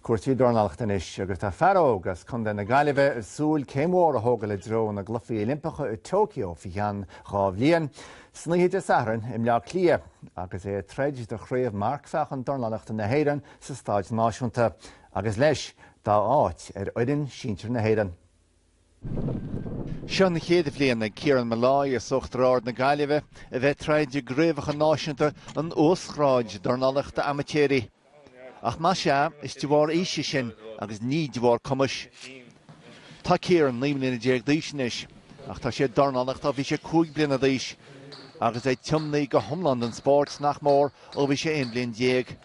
cúrsaí dornálaíochta anois agus tá fear óg as Contae na Gaillimhe ag súil céim mhór a thógáil i dtreo na gCluichí Oilimpeacha i Tokyo faoi cheann dhá bhliain. San oíche Dé Sathairn i mBleá Cliath, agus é ag troid do chraobh Marcmheáchain Dornálaíochta na hÉireann sa Stáid Náisiúnta agus, leis, dá áit ar fhoireann sinsir na hÉireann, Seo an chéad bhliain ag Kieran Molloy as Uachtar Ard na Gaillimhe a bheith ag troid i gCraobhacha Náisiúnta an Uasghráid Dornálaíochta Amaitéirí. Ach más ea, is de bharr aoise sin agus ní de bharr cumais. Tá Kieran naoi mbliana déag d'aois anois ach tá sé ag dornálaíocht ó bhí sé cúig bliana d'aois agus é tiomnaithe go hiomlán don spóirt, nach mór, ó bhí sé aon bhliain déag.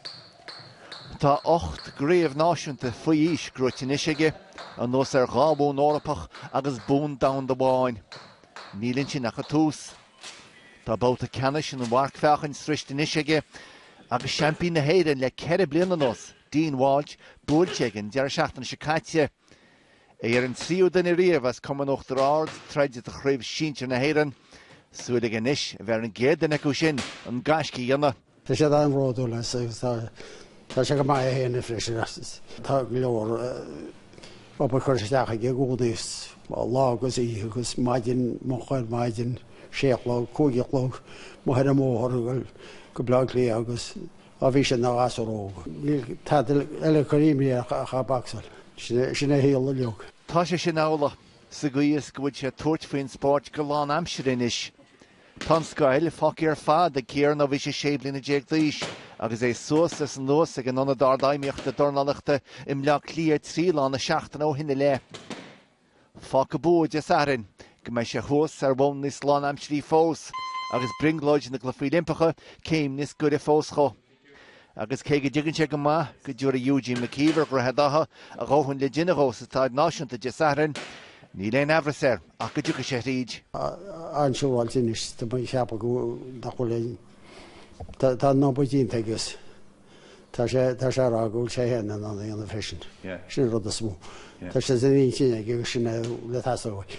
Tá ocht gcraobh náisiúnta faoi aois gnóite anois aige, anuas ar dhá bhonn Eorpach agus bonn domhanda amháin. Níl ansin ach an tús. Tá babhta ceannais an mharcmheáchain sroichte anois aige agus seaimpín na hÉireann le ceithre bliana anuas, Dean Walsh, buailte aige an deireadh seachtaine seo caite. É ar an tríú duine riamh as Cumann Uachtar Ard ag troid do Chraobh Sinsear na hÉireann. Súil aige anois a bheith ar an gcéad duine acu sin an gaisce a dhéanamh. Tá siad an-bhródúil as agus tá sé go maith a théann freisin. Tá go leor obair curtha isteach aige i gcónaí, lá agus oíche agus maidin, moch ar maidin, sé a chlog, cúig a chlog, amuigh ar an mbóthar go Bleá Cliath agus Ó bhí sé ina ghasúr óg, níl tada eile ag cur imní air ach ag bacsáil. Sin é a shaol uilig. Tá sé sin amhlaidh sa gcaoi is go bhfuil sé ag tabhairt faoin spóirt go lánaimsire anois. Tá an scoil fágtha ar fad ag Kieran ó bhí sé sé bliana déag d'aois agus é suas is anuas ag an Ionad Ardfheidhmíochta Dornálaíochta i mBleá Cliath trí lá na seachtaine ó shin i leith. Fágfaidh bua Dé Sathairn go mbeidh sé thuas ar bhonn níos lánaimsirí fós agus brionglóid na gCluichí Oilimpeacha céim níos gaire fós dhó. Agus cé go dtuigeann sé go maith go dtabharfaidh Eugene McKeever Dhroichead Átha a dhóthain le déanamh dhó sa Staid Náisiúnta Dé Sathairn, níl aon aimhreas air ach go dtiocfaidh sé thríd. An-siúráilte anois tá mé ag ceapadh nach bhfuil aon dá nóiméad déanta aige. Tá sé, tá sé ag rá go bhfuil sé féin in ann a dhéanamh freisin. Sin an rud is mó. Tá sé san intinn aige agus sin é atá ag teastáil uaidh.